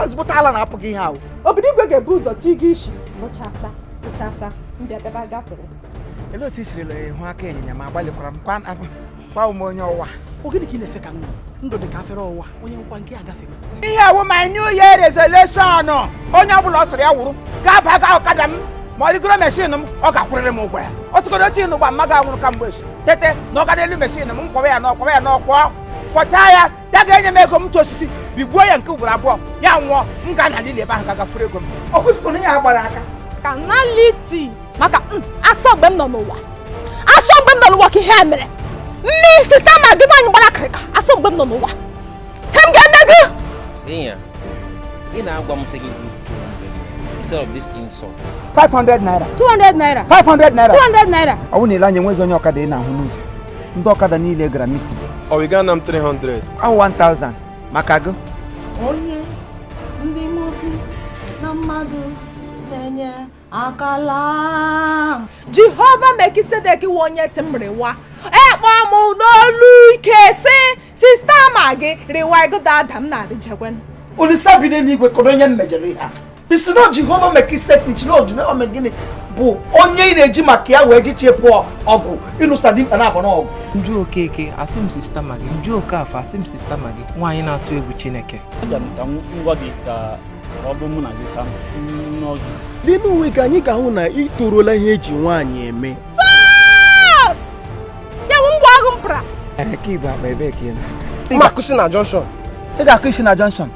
ezigbote ala na-apụ gị ihe ahụ obodo igwe ga-ebu ụzọ chi gị isi zụchasa zụchasa ndị abịaba gafere olee otu i sirila hụ aka ịnyịnya ma gbalịkwara m kwa gwa m onye ọwa ọ gịnị ka ị na-efe ka m ndụ dị ka afere ọwa onye nkwa nke a gafe ihe a wụ my new year resolution onye ọbụla ọ sọrọ ya wụrụ ga-aba ga ọkada m ma ọ rịgoro meshin m ọ ga-akwụrịrị m ụgwọ ya ọ sọgodo otu ịnụ gba mma ga nwụrụ ka mgbe echi tete na ọ ga n'elu meshin m m kwọwa ya n'ọkwọwa ya n'ọkwọ kwọchaa ya ya ga-enye m ego m tụ osisi bigbuo ya nke ugboro abụọ ya nwụọ m ga na lili ebe ahụ gaga furu ego m ọ kwufuru na ya gbara aka ka na liti maka mm, a sị ọ mgbe m nọ n'ụwa a sị ọ mgbe m nọ n'ụwa ka ihe a mere nne sista magị nwaanyị gbara akịrịka a sị ọ mgbe m nọ n'ụwa ihe m ga-eme gị Inya, ị na-agwa m sị gị gbuo instead of this insult. 500 naira 200 naira 500 naira 200 naira ọ bụrụ na i lee anya enwezi onye ọkada ị na-ahụ n'ụzọ ndị ọkada niile gara mitin ọ wụ ị ga-ana m 300 ahụ 1000 maka gị onye ndị mozi na mmadụ na-enye akala jehova melkizedek wụ onye sị m rịwa ekpọ m n'olu ike sị sista magị rịwa ego dada m na-arịjekwen olisa bi n'eluigwe kọrọ onye m mejọrọ ihe a ị sị na jehova melkizedek na ojinome gịnị bụ onye ị na-eji maka ya wee ji chepụ ọgụ ịnụsa dimkpa na abụ na ọgụ m jụ okeke a sị m sista magị m jụ okafọ a sị m sista magị nwaanyị na-atụ egwu chineke abịa m ka m gwa gị ka ọ bụ mụ na gị ka nọ gị n'ime onwe gị anyị ga-ahụ na ị toruola ihe e ji nwaanyị eme ya bụ ngwa agụ mpra ka i bu akpa ebee ka ị na-aga ị ga-akwụsị na jọnshọn